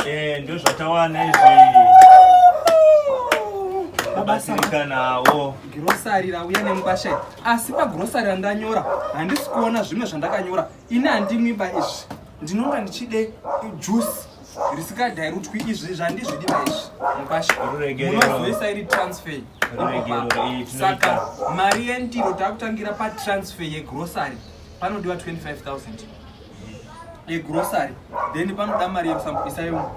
Eh, ndio zvatawana izvi abatsirikanawo girosari rauya nemubasha asi pagirosari randanyora handisi kuona zvimwe zvandakanyora ini handimwiba izvi ndinonga ndichide juice risikadhairutwi izvi zvandizvidi maizvi mubashamunozoisa iri transfer saka mari yendiro takutangira patransfer yegrosari panodiwa 25000 yegrocery then panoda mari yerusambo isayo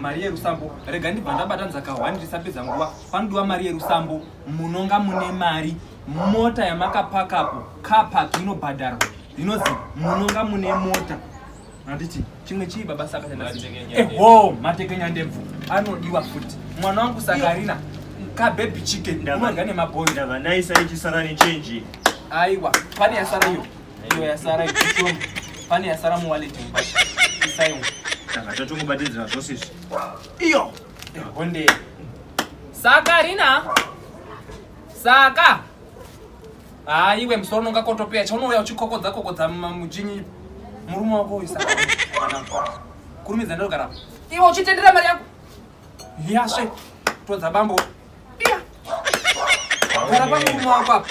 mari yerusambo rega ndibva ndabata nzaka one ndisapedza nguva panodiwa mari yerusambo munonga mune mari mota yamakapakapo capak inobhadharwa inozi munonga mune mota anditi chimwe chii baba saka eho matekenya ndebvu anodiwa futi mwana wangu sakarina kabebi chicken unodya nemabhoi ndava naisa ichisara nechenji aiwa pane yasara iyo Iyo yasara ikushoma. Pane yasara mu wallet mubasha. Isai umu. Saka tatongobatidzira zvose izvi. Iyo. Honde. Saka Rina. Saka. Ah, iwe musoro nonga kotopeya chaunouya uchikokodza kokodza mujinyi murume wako uyu saka. Kurumidza ndogara. Iwe uchitendera mari yako. Yashe. Todza bambo. gara pamurume wako apa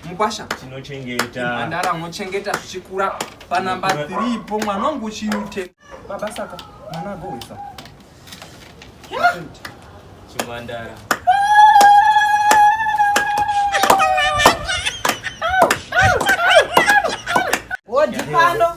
mukwasha tinochengeta ndara mochengeta zvichikura panamba 3 ipo mwana wangu uchiute baba saka mwana agohwisa chimwandara wodipando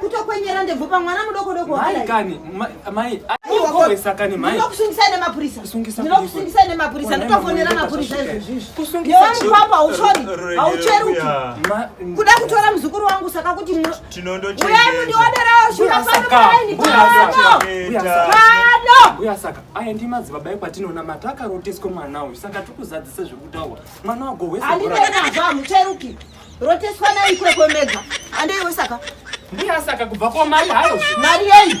kutokwenyera ndebvu pamwana mudoko doko mai kani mai akohesa kani mai ndokusungisa nemapurisa ndokusungisa nemapurisa ndotofonera mapurisa izvozvizvi kusungisa yewamukwapa hauchori haucheruki kuda kutora muzukuru wangu saka kuti uyai mundioderawo shura pano pano pano uya saka aya ndi madzibaba ekwatinoona mata akaroteswa mwana uyu saka tikuzadzisa zvekutaura mwana wagohwesa andinenazvo hamucheruki Roteswa nayo ikwekwe mega. Andei wesaka. Mbuya saka kubva kwa mai hayo. Mari yei?